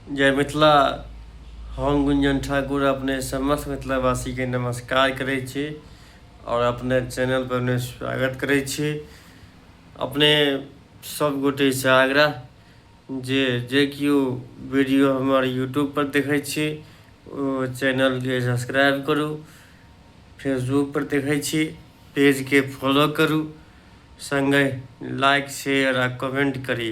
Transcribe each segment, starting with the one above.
जय मिथिला हम गुंजन ठाकुर अपने समस्त मिथिलावासीके नमस्कार करै छी आओर अपने चैनल पर अपने स्वागत करै छी अपने सब गोटे से आग्रह जे जे केओ वीडियो हमर यूट्यूब पर देखै छी ओ चैनल के सब्सक्राइब करू फेसबुक पर देखै छी पेज के फॉलो करू संगे लाइक शेयर आ कमेंट करी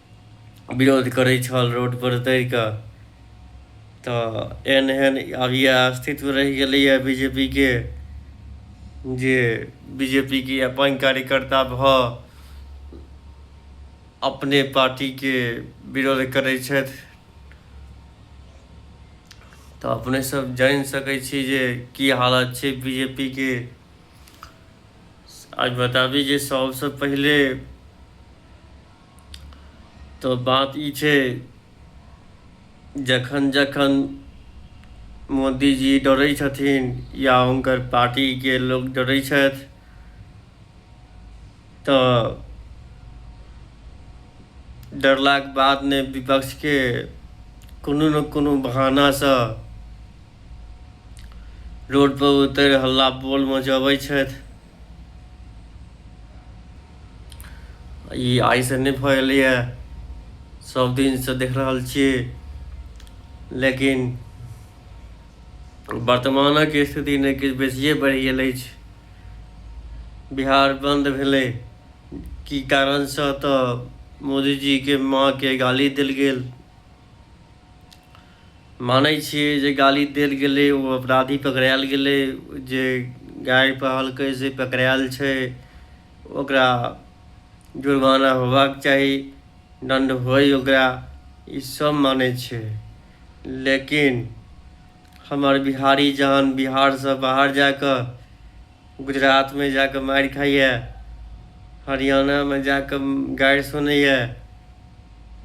विरोध करै छल रोडपर उतरि कऽ तऽ एहन एहन आब इएह अस्तित्व रहि गेलैए बी जे पी के जे बी जे पी के अपन कार्यकर्ता भऽ अपने पार्टीके विरोध करै छथि तऽ अपने सब जानि सकै छी जे की हालत छै बी जे पी के आज बताबी जे सबसँ पहिले तऽ बात ई छै जखन जखन मोदीजी डरै छथिन या हुनकर पार्टीके लोक डरै छथि तऽ डरलाक बाद ने विपक्षके कोनो ने कोनो बहानासँ रोडपर उतरि हल्ला बोल मचबै छथि ई आइ से नहि भऽ एलैए सब दिनसँ देख रहल छियै लेकिन वर्तमानक स्थिति नहि किछु बेसिए बढ़ि गेल अछि बिहार बन्द भेलै की कारणसँ तऽ मोदीजीके माँके गाली देल गेल मानै छियै जे गाली देल गेलै ओ अपराधी पकड़ायल गेलै जे गाय पहलकै से पकड़ायल छै ओकरा जुर्माना होबाक चाही दण्ड होय ओकरा ई सब मानै छै लेकिन हमर बिहारी जहन बिहारसँ बाहर जा कऽ गुजरातमे जा कऽ मारि खाइए हरियाणामे जा कऽ गारि सुनैए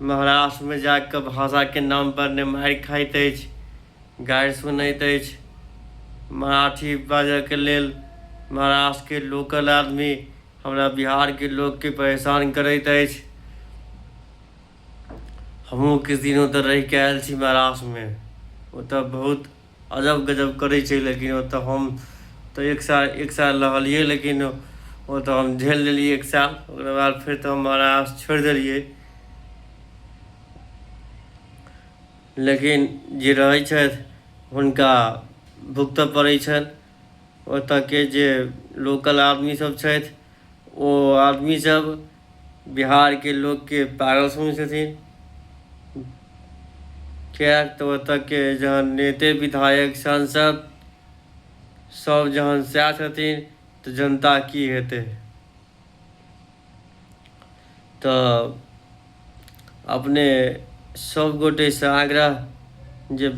महाराष्ट्रमे जा कऽ भाषाके नामपर ने मारि खाइत अछि गारि सुनैत अछि मराठी बाजयके लेल महाराष्ट्रके लोकल आदमी हमरा बिहारके लोकके परेशान करैत अछि हमहूँ किछु दिनों तऽ रहि कऽ आयल छी महाराष्ट्रमे ओतय बहुत अजब गजब करै छै लेकिन ओतऽ हम तऽ एक साल एक साल रहलियै लेकिन ओ तऽ हम झेल लेलियै एक साल ओकरा बाद फेर तऽ हम आवास छोड़ि देलियै लेकिन जे रहै छथि हुनका भुगतऽ पड़ै छनि ओतऽके जे लोकल आदमी सब छथि ओ आदमी सब बिहारके लोकके पागल समझै छथिन किएक तऽ ओतऽके जहन नेते विधायक सांसद सब जहन सएह छथिन तऽ जनता की हेतै तऽ अपने सब गोटेसँ आग्रह जे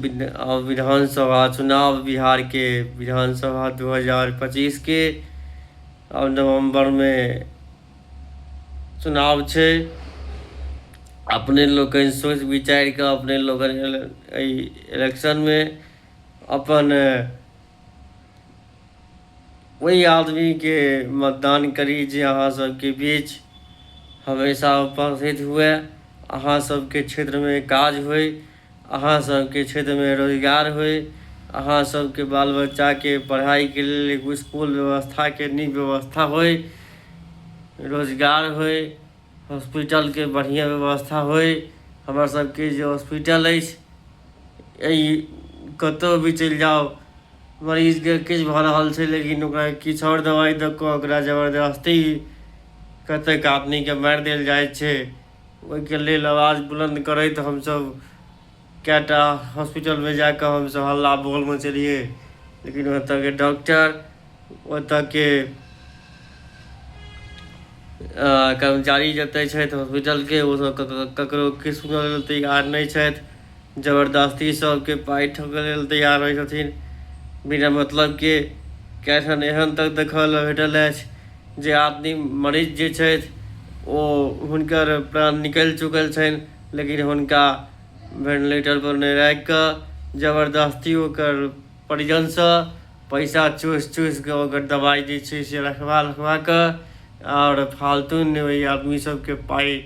विधानसभा चुनाव बिहारके विधानसभा दू हजार पच्चीसके आओर नवम्बरमे चुनाव छै अपने लोकनि सोचि विचारि कऽ अपने लोकनि एहि इलेक्शनमे अपन ओहि आदमीके मतदान करी जे अहाँ सबके बीच हमेशा उपस्थित हुए अहाँ सबके क्षेत्रमे काज होइ अहाँ सबके क्षेत्रमे रोजगार होइ अहाँ सबके बाल बच्चाके पढ़ाइके लेल एगो इसकुल व्यवस्थाके नीक व्यवस्था होइ रोजगार होइ हॉस्पिटलके बढ़िआँ व्यवस्था होइ हमरा सबके जे हॉस्पिटल अछि अइ कतहु भी चलि जाउ मरीजके किछु भऽ रहल छै लेकिन ओकरा किछु आओर दबाइ दऽ कऽ ओकरा जबरदस्ती कतहु कादनीके मारि देल जाइ छै ओहिके लेल आवाज बुलन्द करैत हमसभ कए टा हॉस्पिटलमे जा कऽ हमसभ हल्ला बोल मचेलियै लेकिन ओतयके डॉक्टर ओतयके कर्मचारी जतेक छथि हॉस्पिटलके ओसभ ककरो किछु सुनय लेल तैयार नहि छथि जबरदस्ती सभके पाइ ठोकय लेल तैयार रहै छथिन बिना मतलबके कएकठाम एहन तक देखय लेल भेटल अछि जे आदमी मरीज जे छथि ओ हुनकर प्राण निकलि चुकल छनि लेकिन हुनका भेंटिलेटरपर नहि राखि कऽ जबरदस्ती ओकर परिजनसँ पैसा चूसि चूसि कऽ ओकर दबाइ जे छै से रखबा रखबा कऽ आओर फालतू नहि ओहि आदमी सभके पाइ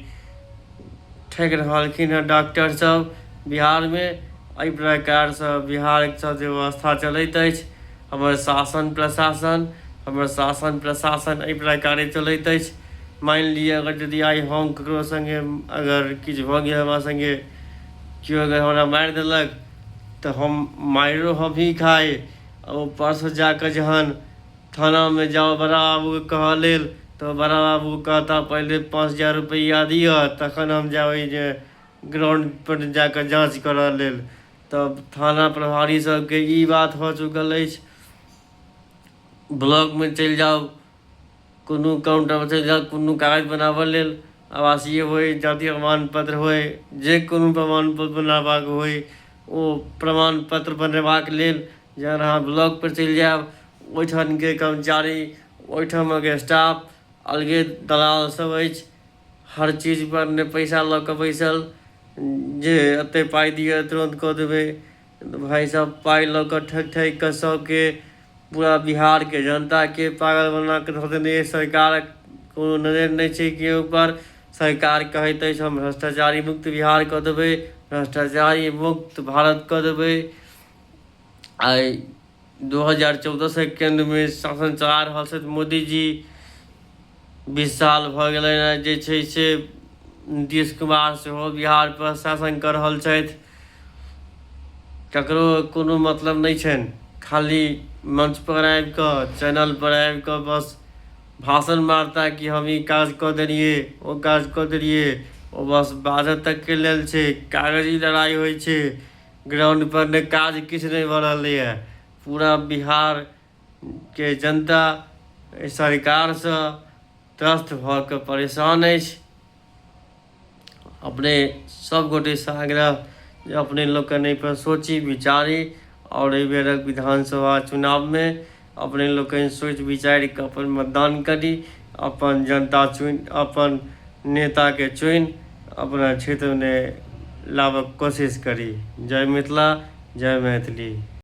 ठकि रहलखिन हँ डॉक्टर सभ बिहारमे एहि प्रकारसँ बिहारसँ जे व्यवस्था चलैत अछि हमर शासन प्रशासन हमर शासन प्रशासन एहि प्रकारे चलैत अछि मानि लिअ अगर यदि आइ हम ककरो सङ्गे अगर किछु भऽ गेल हमरा सङ्गे केओ अगर हमरा मारि देलक तऽ हम मारिओ हमही खाइ आ ऊपरसँ जा कऽ जहन थानामे जाउ बड़ा बाबूके कहऽ लेल तऽ बड़ा बाबू कहता पहिले पाँच हजार रुपैआ दिअ तखन हम जायब ई जे ग्राउंडपर जा कऽ जाँच करय लेल तब थाना प्रभारी सभके ई बात भऽ चुकल अछि ब्लॉकमे चलि जाउ कोनो काम टाम छै या कोनो कागज बनाबऽ लेल आवासीय होइ जाति प्रमाण पत्र होइ जे कोनो प्रमाण पत्र बनाबऽक होइ ओ प्रमाण पत्र बनेबाक लेल जहन अहाँ ब्लॉक पर चलि जायब ओहिठामके कर्मचारी ओहिठामक स्टाफ अलगे दलाल सभ अछि हर चीज पर नहि पैसा लऽ कऽ बैसल जे एते पाइ दिअ तुरन्त कऽ देबै भाई साहब पाई ल क ठक ठक क सब के पूरा बिहार के जनता के पागल बना के धो देने ये सरकार कोनो नजर नहीं छै के ऊपर सरकार कहैत अछि हम भ्रष्टाचारी मुक्त बिहार क देबे भ्रष्टाचारी मुक्त भारत क देबे आय दू हजार चौदहसँ केन्द्रमे शासन चला रहल छथि मोदीजी बीस साल भऽ गेलै हँ जे छै से नीतीश कुमार सेहो बिहारपर शासन कऽ रहल छथि ककरो कोनो मतलब नहि छनि खाली मंचपर आबि कऽ चैनलपर आबि कऽ बस भाषण मारता कि हम ई काज कऽ देलियै ओ काज कऽ देलियै ओ बस बाजऽ तकके लेल छै कागजी लड़ाइ होइ छै ग्राउंड पर ने काज किछु नहि भऽ रहलैए पूरा बिहारके जनता एहि सरकारसँ त्रस्त भऽ कऽ परेशान अछि अपने सभगोटेसँ आग्रह जे अपने लोकनि एहिपर सोची विचारी आओर एहि बेरक विधानसभा चुनावमे अपने लोकनि सोचि विचारि कऽ अपन मतदान करी अपन जनता चुनि अपन नेताके चुनि अपना क्षेत्रमे लाबक कोशिश करी जय मिथिला जय मैथिली